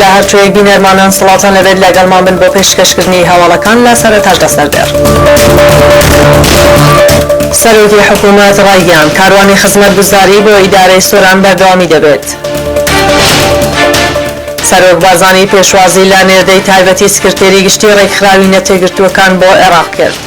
لە هەرکوێی بینەرمانان سڵاوتان لەبێت لەگەڵمان بن بۆ پێشکەشکردنی هەواڵەکان لە سەرەتا لە سەر دێڕ. سەرۆکی حکوومەت ڕایگەیاند، کاروانی خزمەتگوزاری بۆ ئیدارەی سۆران بەردەوامی دەبێت. سەرۆک بارزانی پێشوازی لە نێردەی تایبەتی سکرتێری گشتی ڕێکخراوی نەتێکگرتووەکان بۆ عێراق کرد.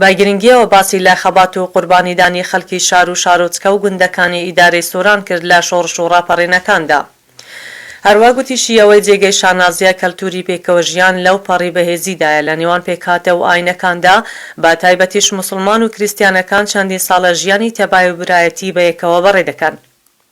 بە گرنگییەوە باسی لە خەبات و قوربانیدانی خەڵکی شار و شارۆچکە و گوندەکانی ئیدارەی سۆران کرد لە شۆڕش و ڕاپەڕینەکاندا. هەروا گوتیشی ئەوەی جێگەی شانازییە کەلتووری پێکەوەژیان لەو پەڕی بەهێزیدایە لە نێوان پێکهاتە و ئایینەکاندا، بە تایبەتیش موسڵمان و کریستیانەکان چەندین ساڵە ژیانی تەبای و برایەتی بەیەکەوە بەڕێ دەکەن.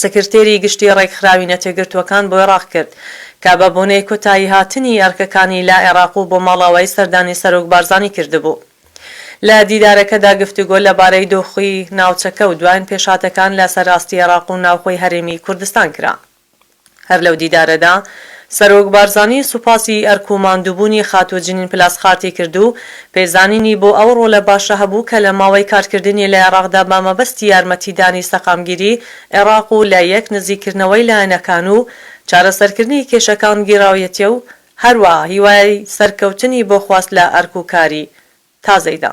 سکرتێری گشتی ڕێکخراوی نەتێگرتووەکان بۆی ڕاککرد کە بە بۆنەی کۆتایی هاتنی ئەرکەکانی لە عێراق و بۆ ماڵئاوایی سەردانی سەرۆک بارزانی کردبوو. لە دیدارەکەدا گفتوگۆ لە بارەی دۆخی ناوچەکە و دواین پێشهاتەکان لە سەر ئاستی عێراق و ناوخۆی هەرێمی کوردستان کرا. هەر لەو دیدارەدا سەرۆک بارزانی سوپاسی ئەرک و ماندووبوونی خاتوو جنین پلاسخارتی کرد و پێزانینی بۆ ئەو ڕۆلە باشە هەبوو کە لە ماوەی کارکردنی لە عێراقدا بە مەبەستی یارمەتیدانی سەقامگیری عێراق و لە یەک نزیککردنەوەی لایەنەکان و چارەسەرکردنی کێشەکان گێڕاویەتیە و هەروەها هیوای سەرکەوتنی بۆ خواست لە ئەرک و کاری تازەیدا.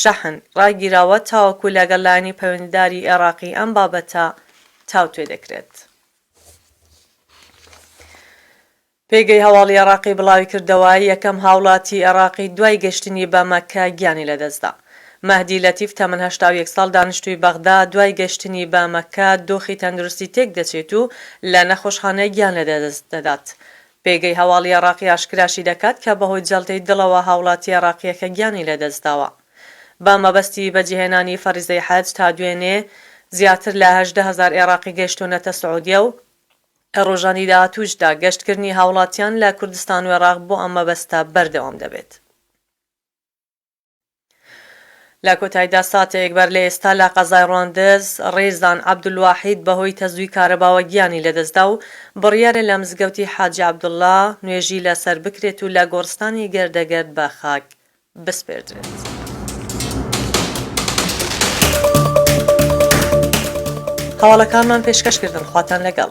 شەحن، ڕاگیراوە تاوەکو لەگەڵ لایەنی پەیوەندیداری ئێڕاقی ئەم بابەتە تاوتوێ دەکرێت. پێگەی هەواڵی ئێڕاقی بڵاویکردەوە، یەکەم هاوڵاتی ئێڕاقی دوای گەشتنی بە مەککە گیانی لەدەستدا. مەهدی لەتیف تەمەن هەشتا و یەک ساڵ دانیشتووی بەغدا، دوای گەشتنی بە مەککە دۆخی تەندروستی تێکدەچێت و لە نەخۆشخانە گیان لەدەست دەدات. پێگەی هەواڵی عێڕاقی ئاشکراشی دەکات کە بەهۆی جەڵتەی دڵەوە هاوڵاتی عێڕاقییەکە گیانی لەدەستداوە بە مەبەستی بەجێهێنانی فەریزەی حەج، تا دوێنێ زیاتر لە هەژدە هەزار عێڕاقی گەیشتوونەتە سعودیە و لە ڕۆژانی داهاتووشدا گەشتکردنی هاوڵاتیان لە کوردستان و عێڕاق بۆ ئەم مەبەستە بەردەوام دەبێت. لە کۆتایدا ساتێک بەر لە ئێستا لە قەزای ڕواندز، ڕێزان عەبدولواحید بەهۆی تەزووی کارەباوە گیانی لەدەستدا و بڕیارە لە مزگەوتی حاجی عەبدوڵا نوێژی لەسەر بکرێت و لە گۆڕستانی گردەگرد بە خاک بسپێردرێت. هەواڵەکانمان پێشکەش کردن خواتان لەگەڵ.